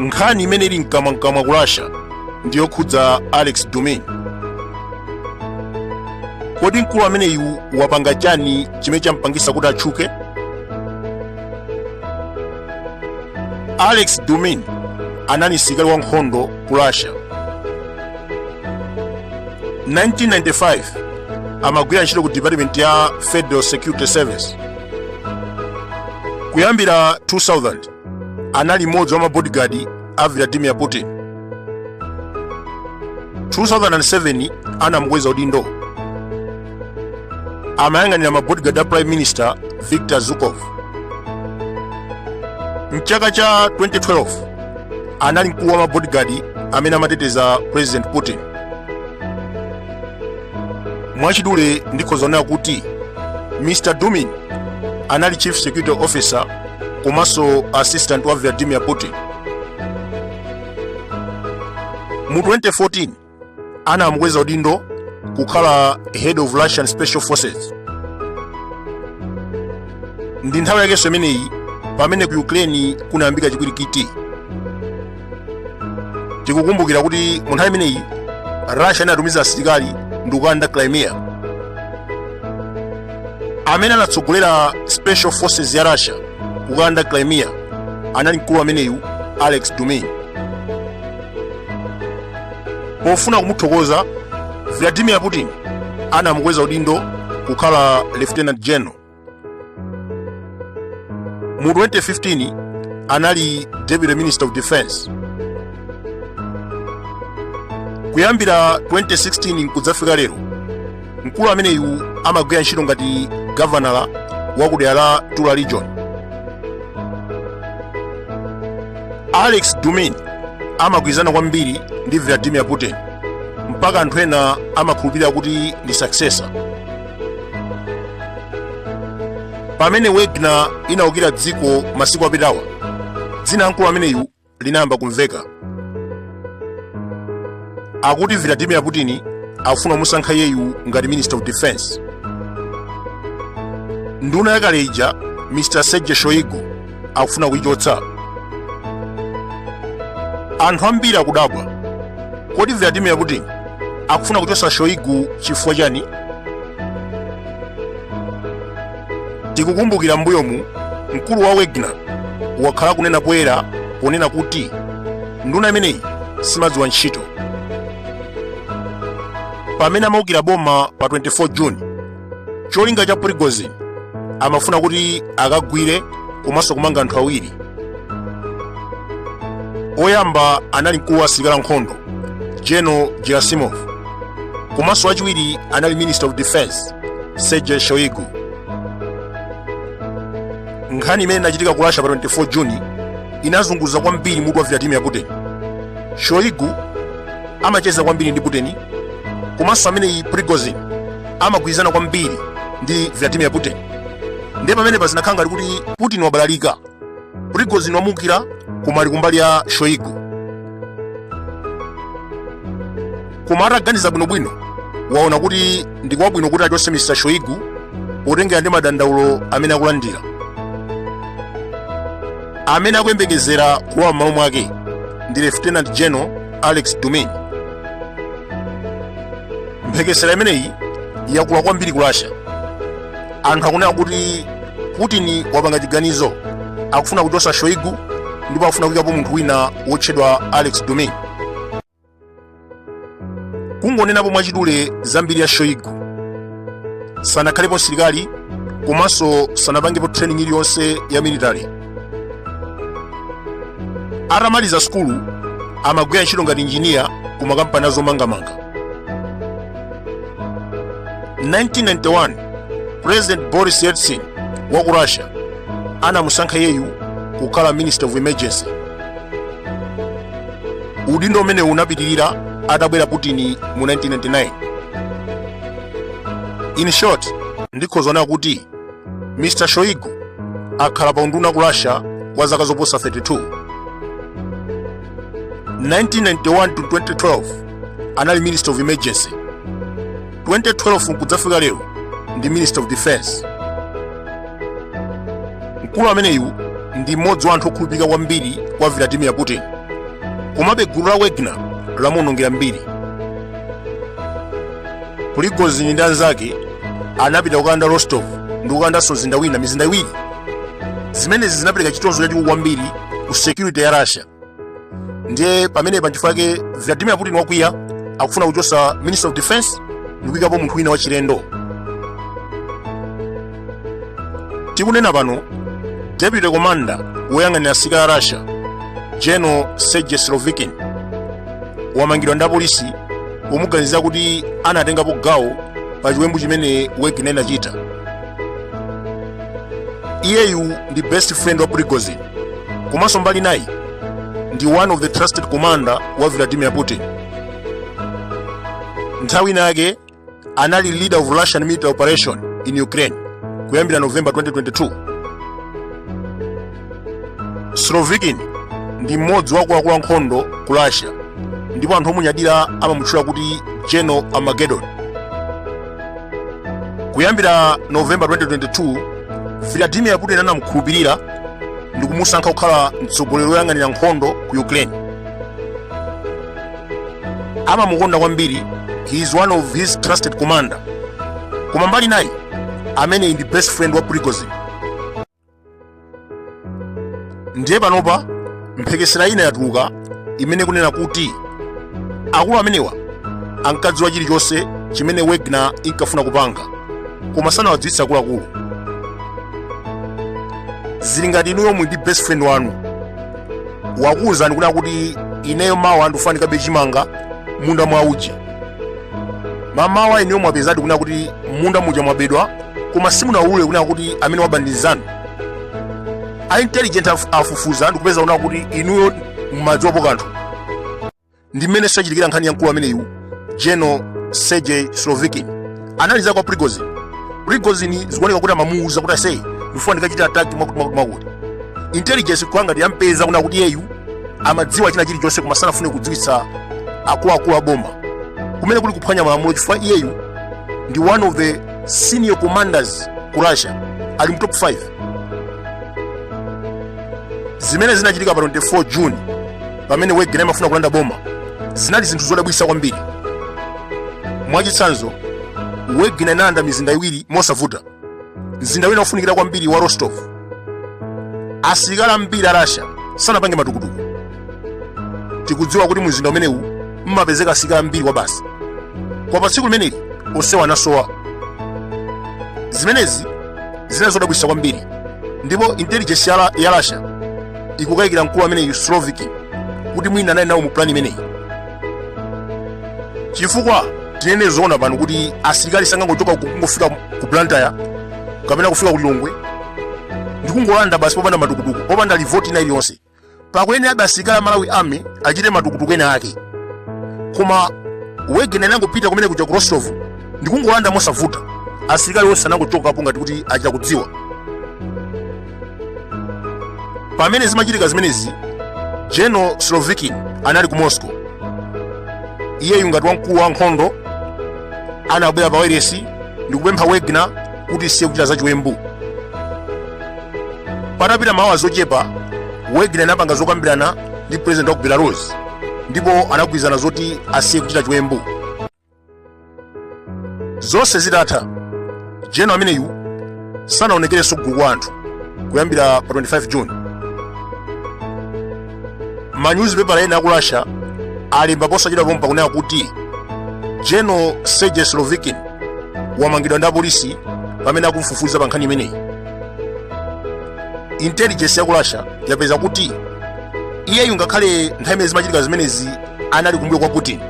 nkhani imene ili mkamwamkamwa ku russia ndi yokhudza alex dumin kodi mkulu ameneyu wapanga chani chimene champangisa kuti atchuke alex dumin anali msilikali wa nkhondo ku russia 1995 amagwira ntchito ku department ya federal security service kuyambira 2000 anali mmodzi wa mabodigadi a vladimir putin 2007 anamukweza udindo amayang'anira mabodigadi a prime minister victor zubkov mchaka cha 2012 anali mkulu wa mabodigadi amene amateteza president putin mwachidule ndikhoza kunena kuti mr dumin anali chief security officer komanso assistant wa vladimir putin mu 2014 anamukweza udindo kukhala head of russian special forces ndi nthawi yakenso imeneyi pamene ku ukraine kunayambika chipwirikiti tikukumbukira kuti mu nthawi imeneyi russia inatumiza asilikali ndi kukalanda crimea amene anatsogolera special forces ya russia kukalanda crimea anali mkulu ameneyu alex dumin pofuna kumuthokoza vladimir putin anamukweza udindo kukhala lieutenant general mu 2015 anali deputy minister of defense kuyambira 2016 kudzafika lero mkulu ameneyu amagwira ntchito ngati gavanala wa ku dera la tula region alex dumin amagwirizana kwambiri ndi vladimir putin mpaka anthu ena amakhulupirira kuti ndi successor pamene wagner inaukira dziko masiku apitawo dzina la mkulu ameneyu linayamba kumveka akuti vladimir putin akufuna kumusankha iyeyu ngati minister of defense nduna yakale ija mr sergei shoigu akufuna kuichotsa anthu ambiri akudabwa kodi vladimir putin akufuna kuchotsa shoigu chifukwa chani tikukumbukira mbuyomu mkulu wa wagner wakhala akunena poyera ponena kuti nduna imeneyi simadziwa ntchito pamene amaukira boma pa 24 juni cholinga cha prigozin amafuna kuti akagwire komanso kumanga anthu awiri woyamba anali mkulu wa asilikali ankhondo general gerasimov komanso wachiwiri anali minister of defense sergei shoigu nkhani imene inachitika ku russia pa 24 juni inazunguza kwambiri mutu wa vladimir putin shoigu amacheza kwambiri ndi putin komanso amene prigozin amagwirizana kwambiri ndi Vladimir Putin. Ndiye pamenepa zinakhala ngati kuti Putin wabalalika, Prigozhin wamuukira koma ali kumbali ya Shoigu. Koma ataganiza bwinobwino waona kuti ndi kwabwino kuti achotse Mr. Shoigu potengera ndi madandaulo amene akulandira amene akuyembekezera kulowa m'malo mwake ndi Lieutenant General Alexei Dyumin. mphekesera imeneyi yakula kwambiri ku russia anthu akunena kuti putin wapanga chiganizo akufuna kuchosa shoigu ndipo akufuna kuikapo munthu wina wotchedwa alexei dyumin kungonenapo mwachidule za mbiri ya shoigu sanakhalepo msilikali komanso sanapangepo training iliyonse ya military atamaliza sukulu amagwira ntchito ngati injiniya ku makampani azomangamanga 1991 president boris yeltsin wa ku russia anamusankha iyeyu kukhala minister of emergency udindo umenewu unapitirira atabwera putin mu 1999 in short ndikhoza kunena kuti mr shoigu akhala pa unduna ku russia kwa zaka zoposa 32 1991 to 2012 anali minister of emergency 2012 nkudzafika lero ndi minister of defense mkulu ameneyu ndi mmodzi wa anthu okhulupirika kwambiri kwa vladimir putin komabe gulu la wagner lamuwonongera mbiri prigozin ndi anzake anapita kukalanda rostov ndi kukalandanso mzinda wina mizinda iwiri zimenezi zinapereka chitonzo chachikulu kwambiri ku security ya russia ndiye pamenepa nchifukwa chake vladimir putin wakwiya akufuna kuchotsa minister of defense ndi kuyikapo munthu wina wachilendo tikunena pano deputy commander woyang'anira asilikali a russia general sergei surovikin wamangidwa ndi apolisi pomuganizira kuti anatengapo gawo pa chiwembu chimene wagner inachita iyeyu ndi best friend wa prigozhin komanso mbali inayi ndi one of the trusted commander wa vladimir putin nthawi inayake anali leader of russian military operation in ukraine kuyambira november 2022 slovikin ndi mmodzi wa akuluakulu a nkhondo ku russia ndipo anthu omunyadira amamutchula kuti general armageddon kuyambira november 2022 vladimir putin anamkhulupirira ndi kumusankha kukhala mtsogoleri woyang'anira nkhondo ku ukraine amamukonda kwambiri he is one of his trusted commander koma mbali inayi ameneyu ndi best friend wa prigozin ndiye panopa mphekesera ina yatuluka imene ikunena kuti akulu amenewa ankadziwa chilichonse chimene wegner inkafuna kupanga koma sanawadziwitse akuluakulu zili ngati inuyo muli ndi best friend wanu wakuwuzani kunena kuti ineyo mawa ndikufuna ndikabe chimanga mmunda mwa uja mamawa inuyo mwapezadi kunena kuti mmunda muja mwabedwa koma simunawulule kunena kuti amene waba ndi nzanu a intelligence af- afufuza ndikupeza kunena kuti inuyo mumadziwapo kanthu ndi mmene zachitikira nkhani ya mkulu ameneyu general sergey slovikin anali nzake wa prigozin prigozin zikuoneka kuti amamuuza kuti ase ndifuna ndikachite ataki mwakuti mwakuti mwakuti intelligence kukhala ngati yampeza kunena kuti iyeyu amadziwa china chilichonse koma sanafune kudziwitsa akuluakulu a boma kumene kuli kuphwanya malamulo chifukwa iyeyu ndi one of the senior commanders ku russia ali mu top 5 zimene zinachitika pa 24 june pamene wegner imafuna kulanda boma zinali zinthu zodabwitsa kwambiri mwachitsanzo wegner inalanda mizinda iwiri mosavuta mzinda wina wofunikira kwambiri wa rostov asilikali ambiri a rasha sanapange matukutuku tikudziwa kuti mumzinda umenewu mmapezeka asilikali ambiri kwabasi koma pa tsiku limeneli onsewa anasowa zimenezi zinali zodabwitsa kwambiri ndipo intelligence ya, ya rasha ikukayikira mkulu ameneyu slovikin kuti mwina anali nawo mu plani imeneyi chifukwa tinene zoona pano kuti asilikali sangangochoka ku- kungofika ku blantyre kapena kufika ku lilongwe ndikungolanda basi popanda matukutuku popanda revolt ina iliyonse pakuyenerabe asilikali a malawi army achite matukutuku ena ake koma wegner inangopita kumene kuja ku rostov ndikungolanda mosavuta asilikali onse anangochokapo ngati kuti achita kudziwa pamene zimachitika zimenezi general slovikin anali ku moscow iyeyu ngati wamkulu wa nkhondo anabwera pa wailesi ndi kupempha wegner kuti isiye kuchita zachiwembu patapita maola ochepa wegner inapanga zokambirana ndi president wa ku belarus ndipo anagwirizana zoti asiye kuchita chiwembu zonse zitatha jeno ameneyu sanaonekerenso kugulu kwa anthu kuyambira pa 25 june manyuzipepala ena aku russia alemba posachedwa pompa kunena kuti jeno sergei slovikin wamangidwa ndi apolisi pamene akumfufuza pa nkhani imeneyi intelligence ya ku russia yapeza kuti iyeyu ngakhale nthawi imene zimachitika zimenezi anali kumbuyo kwa putin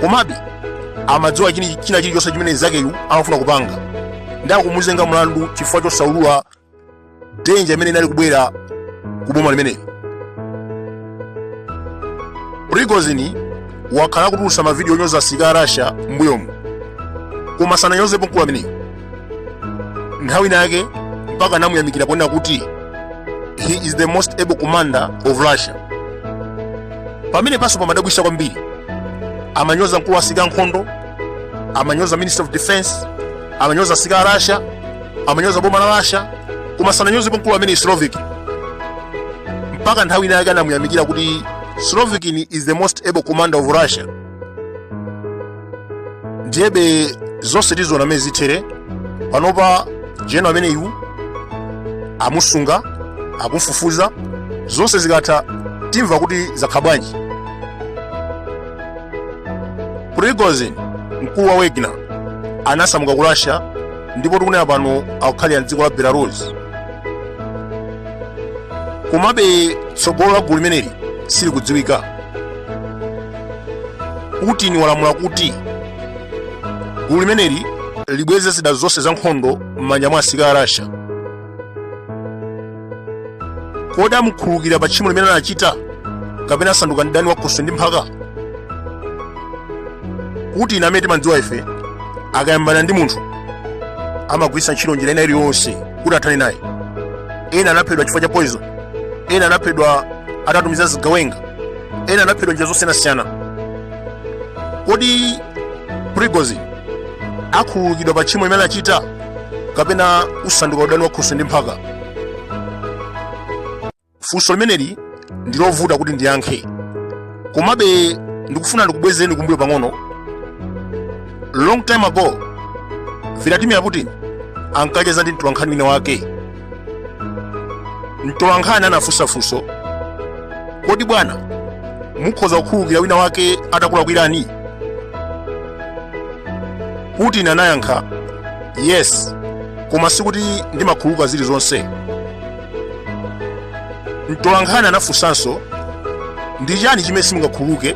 komabe amadziwa chini- china chilichonse chimene mnzakeyu amafuna kupanga ndiye akumuzenga mlandu chifukwa chosaulula denja imene inali kubwera ku boma limeneli prigozini wakhala akutulutsa mavidiyo onyoza asilikali a russia m'mbuyomu koma sananyozepo mkulu ameneyu nthawi inayake mpaka anamuyamikira ponena kuti he is the most able commander of russia pamene panso pamadabwisa kwambiri amanyoza mkulu wa asilikali ankhondo amanyoza minister of defense amanyoza asilikali a russia amanyoza boma la russia koma sananyozepo mkulu ameneyu slovikin mpaka nthawi inayake anamuyamikira kuti slovikin is the most able commander of russia ndiyebe zonse tiziona mmene zithere panopa jeno ameneyu amusunga akumfufuza zonse zikatha timva kuti zakhala bwanji prigozin mkulu wa wagner anasamuka ku russia ndipo tikunena pano akukhalira mdziko la belarus komabe tsogolo la gulu limeneli silikudziwika putin walamula kuti gulu limeneli libweze zida zonse za nkhondo m'manja mwa asirikali a russia kodi amukhululukira pa tchimo limene anachita kapena usanduka udani wa khoswe ndi mphaka putin amene timadziwa ife akayambana ndi munthu amagwiritsa ntchito njira ina iliyonse kuti athane naye ena anaphedwa chifukwa cha poison ena anaphedwa atatumiza zigawenga ena anaphedwa njira zosiyanasiyana kodi prigozin akhululukidwa pa tchimo limene anachita kapena usanduka udani wa khoswe ndi mphaka funso limeneli ndi lovuta kuti ndiyankhe komabe ndikufuna ndikubwezereni kumbuyo pang'ono long time ago vladimir putin ankacheza ndi mtolankhani wina wake mtolankhani anafunsa funso kodi bwana mukhoza kukhululukira wina wake atakulakwirani putin anayankha yes koma sikuti ndimakhululuka zilizonse mtolankhani anafunsanso ndi chani chimene simungakhululuke